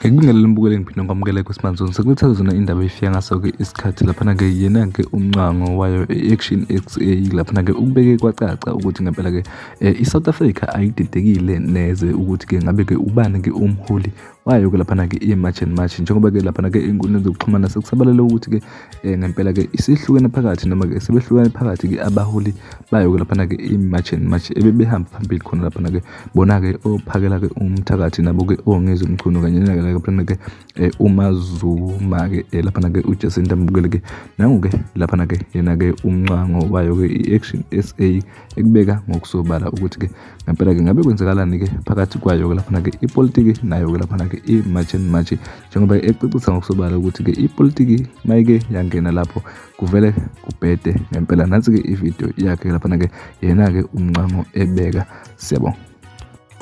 ngikubingelele umbukeli ngiphinde ngikwamukele kwisimanje sekulithatha zona indaba efika ngaso-ke isikhathi laphana-ke yena-ke umncango wayo i-action x a laphana-ke ukubeke kwacaca ukuthi ngempela-ke um i-south africa ayididekile neze ukuthi-ke ngabe-ke ubani-ke umholi wayoke laphana-ke i-march and march njengoba-ke laphana-ke ey'nkundleni zokuxhumana sekusabalele ukuthi-ke um ngempela-ke isihlukene phakathi noma-ke sebehlukene phakathi-ke abaholi bayoke laphana-ke i-march and march ebebehamba phambili khona laphana-ke bona-ke ophakela-ke umthakathi nabo-ke ongezi umchunu kanye nalaphana-ke um umazuma-ke um laphana-ke ujacinta mbukele-ke nangu-ke laphana-ke yena-ke umncango wayo-ke i-action s a ekubeka ngokusobala ukuthi-ke ngempela-ke ngabe kwenzekalani-ke phakathi kwayo-ke laphana-ke ipolitiki nayo-ke laphana-ke i-march and march njengoba ecacisa ngokusobala ukuthi-ke ipolitiki mayike yangena lapho kuvele kubhede ngempela nansi-ke ividiyo yakhe laphana-ke yena-ke umncango ebeka siyabonga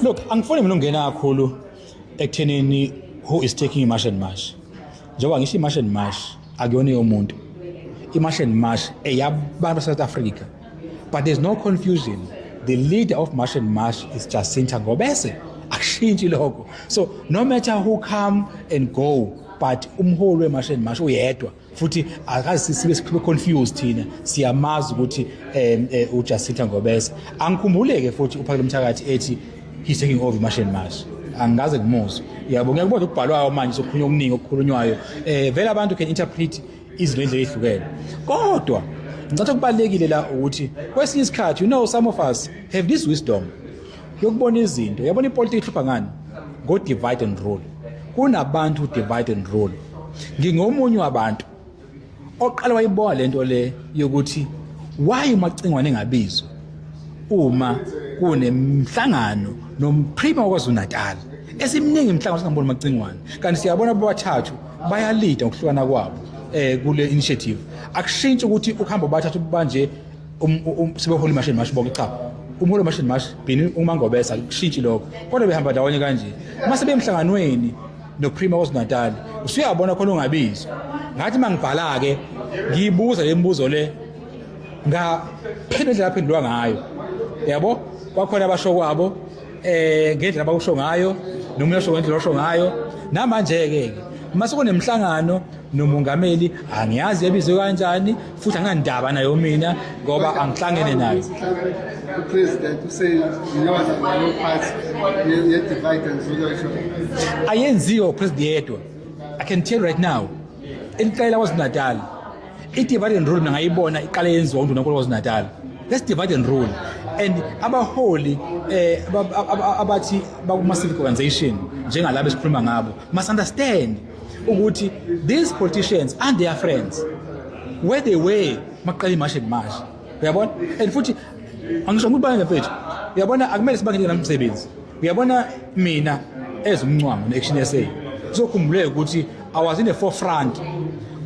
Look, angifuni mina ungena kakhulu ekuthenini who is taking i-march and march njengoba ngisho i-march and march akuyona yomuntu i-march and march eyabantu basesouth africa but there's no confusion the leader of march and march is jacinta ngobese akushintshi lokho so no matter who come and go but umholi we-march and march uyedwa futhi akazi sibe sibe confused thina siyamazi ukuthi um eh, uJacinta Ngobese angikhumbuleke futhi uphakele umthakathi ethi he's taking over masheni mashi angikaze kumuzwe yabo ngiyakubona ukubhalwayo manje sokhulunywa okuningi okukhulunywayo um vele abantu can interpret izinto endlela ehlukene kodwa ngicatha kubalekile la ukuthi kwesinye isikhathi you know some of us have this wisdom yokubona izinto yabona ipolitiki ihlupha ngani ngo-divide and rule kunabantu divide and rule ngingomunye wabantu oqala wayiboa le nto le yokuthi why umacingwane engabizwa uma kunemhlangano nomprima wakwazulu-natal esimningi mhlawumbe singamboni macingwane kanti siyabona bobathathu bayalida ngokuhlukana kwabo um kule initiative akushintshi ukuthi ukuhamba bobathathu banje um, um, um, sebeholi mashini mashi bonke cha umholi mashini mashi bini umangobesa kushintshi lokho kodwa behamba ndawonye kanje uma sebemhlanganweni noprima KwaZulu-Natal usuyabona khona ungabizwa ngathi uma ngibhala-ke ngiyibuza le mibuzo le ngaphendula indlela aphendulwa ngayo yabo kwakhona abasho kwabo eh ngendlela abawusho ngayo nomunye osho ngendlela osho ngayo namanje-ke ke uma sekunemhlangano nomongameli angiyazi ebizwe kanjani futhi anginandaba nayo mina ngoba angihlangene nayo upresident useyiyona leyo part ye-divide and resolution ayenziwe upresident yedwa i can tell right now eliqela kwazinatal i-divide and rule mina ngayibona iqale yenziwa undunankulu kwazinatal let's divide and rule and abaholi eh abathi bakuma civic organization njengalabo esikhuluma ngabo must understand ukuthi these politicians and their friends where they were maqala imashi ngimashi uyabona and futhi angisho ukuthi bayenge mfethu uyabona akumele sibangele namsebenzi uyabona mina ezimncwango ne-action sa sokhumbuleke ukuthi i was in the forefront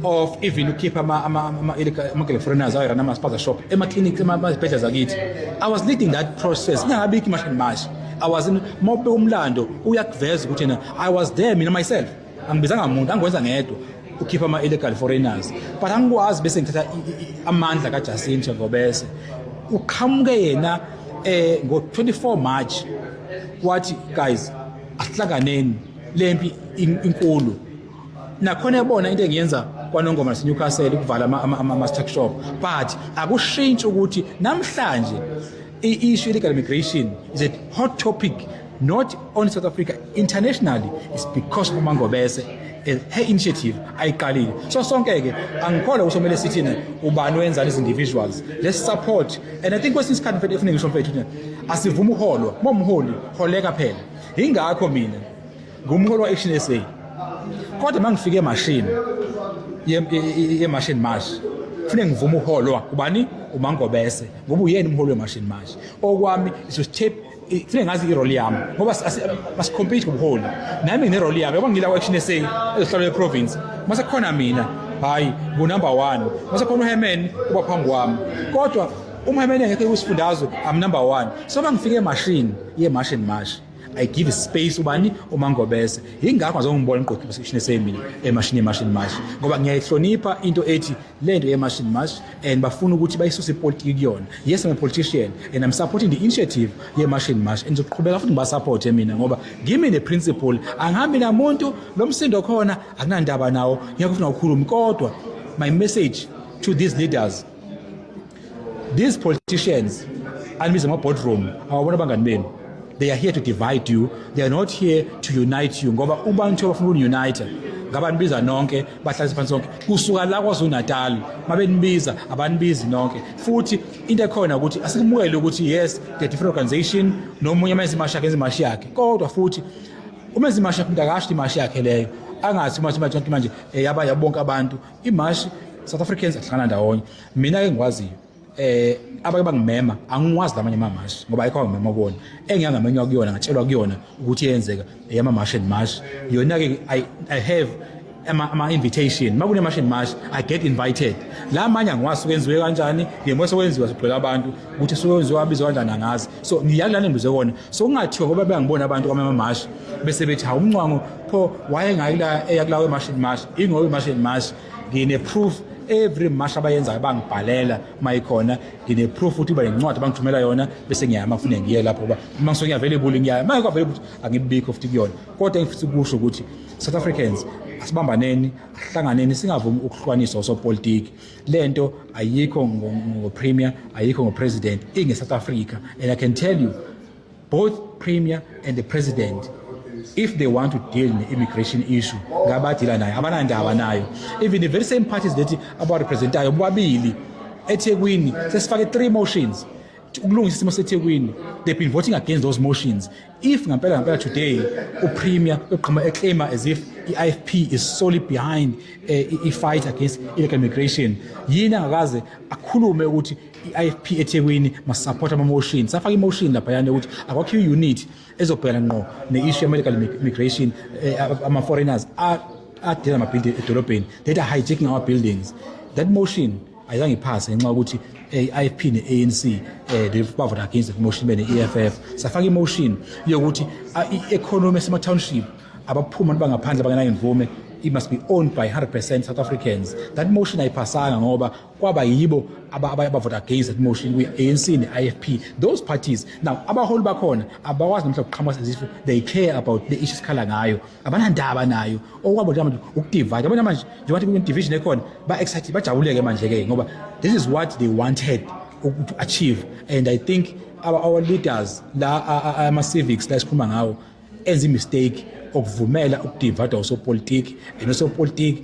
of even ukhipha ama-girlfrienders ayo rana ama-spaza shop ema-clinic emazibhedlela zakithi i was leading that process ingakabikho imashi ngimashi i was in uma ubeka umlando uyakuveza ukuthi yena I was there mina myself angibizanga muntu angikwenza ngedwa ukhipha ama-illegal foreigners but angikwazi bese ngithatha amandla kajustin njengobese uqhamuke yena eh ngo-24 march wathi guys asihlanganeni le mpi inkulu nakhona yabona into engiyenza kwanongoma nasenewcastle ukuvala ama-struck shop but akushintshi ukuthi namhlanje I-issue illegal migration is a hot topic not only South Africa internationally is because of Mangobese and her initiative ayiqalile so sonke ke angikholwa ukuthi kumele sithi ne ubani wenzani as individuals let's support and i think kwesinye isikhathi mfethu efuneka ngisho mfethu asivuma uholwa momholi holeka phela ingakho mina ngumholi wa-action sa kodwa uma ngifike emashini yemashini march kufuneka ngivume uholwa ubani umangobese ngoba uyena umholi wemashini march okwami is to step kufuneka ngazi irole yami ngoba masikhompete ngobuholi nami nginerole yami yabo ngila ku-action sa ezohlalo yeprovince uma sekukhona mina hhayi ngunumber one uma sekukhona uhemen uba phambi kwami kodwa umhemeni engekho kusifundazwe am number one so uma ngifike emashini yemashini mashi I give space ubani umangobese ingakho azongibona ngqoqi position esemini emashini emashini mash ngoba ngiyayihlonipha into ethi lento yemashini mash and bafuna ukuthi bayisuse ipolitiki kuyona yes I'm a politician and I'm supporting the initiative yemashini mash and ngizoqhubeka futhi ngibasupport mina ngoba ngimi ne principle angihambi namuntu lo msindo khona akunandaba nawo ngiyakufuna ukukhuluma kodwa my message to these leaders These politicians anibiza ama boardroom awabona abangani benu they are here to divide you they are not here to unite you ngoba ubantu abafuna ukununite ngabanibiza nonke bahlalise phansi sonke kusuka la kwazulu-natal mabenibiza abanibizi nonke futhi into ekhona ukuthi asikumukele ukuthi yes the different organization nomunye uma enza imashi yakhe enza imashi yakhe kodwa futhi uma enza imashi yakhe umuntu akasho imashi yakhe leyo angathi uma manje eh, yaba yabonke abantu imashi south africans ahlangana ndawonye mina ke ngikwaziyo eh abake bangimema angiwazi lamanye amamashi ngoba ayikho ngimema kubona engiyangamenywa kuyona ngatshelwa kuyona ukuthi yenzeka eyama mash and mash yona ke i i have ama, ama invitation makune mash and mash i get invited la manye angiwazi kwenziwe kanjani ngiyemwe sokwenziwa sigcwele abantu ukuthi sokwenziwa abizwa kanjani angazi so ngiyalana ngibuze kona so kungathiwa ngoba bengibona abantu kwama mash bese bethi ha umncwango pho wayengayi la eyakulawe mash and mash ingowe mash and mash ngine-proof every mash abayenzayo bangibhalela uma ikhona ngine-proof ukuthi uba nencwadi bangithumela yona bese ngiyaya uma kufuneka ngiye lapho uba uma ngisuke ngiyavelebuli ngiyaya uma ngekho available angibikho futhi kuyona kodwa engifisa ukusho ukuthi south africans asibambaneni ahlanganeni singavumi ukuhlukaniswa osopolitiki le nto ayikho ngopremier ayikho ngopresident inge-south africa and i can tell you Both premier and the president if they want to deal ne-immigration issue ngabadila nayo abanandaba nayo even the very same parties that abarepresentayo bobabili ethekwini sesifake three motions ukulungisa isimo sethekwini they've been voting against those motions if ngampela ngampela today upremier uqhuma eclaima as if i-ifp is solely behind uh, i-fight against illegal immigration yini angakaze akhulume ukuthi i-ifp ethekwini masisapotha ama-motion safaka i-motion laphayana yokuthi akwakhiwe i-unit ezobhekana ngqo ne-issue ye-medical immigration eh, ama-foreigners adela amabhildi edolobheni that are hijacking our buildings that motion ayizange iphase ngenxa yokuthi eh, i-ifp ne-anc eh, bavota against that motion bene-eff safaka i-motion yokuthi ah, i-economy esema-township abaphuma bangaphandle bangenayimvume it must be owned by 100% South Africans. That motion ayiphasanga ngoba kwaba yibo abaya bavota against that motion kwi-anc ne-ifp those parties now abaholi bakhona abakwazi namhla kuqhamuka sezifo they care about the issue sikhala ngayo abanandaba nayo okwabo njengamanje ukudivide abanye manje njengoba kune division ekhona ba-excited bajabuleke manje-ke ngoba this is what they wanted to achieve and i think our, our leaders la ama-civics la esikhuluma ngawo enza imistake okuvumela ukudivada osopolitiki and osopolitiki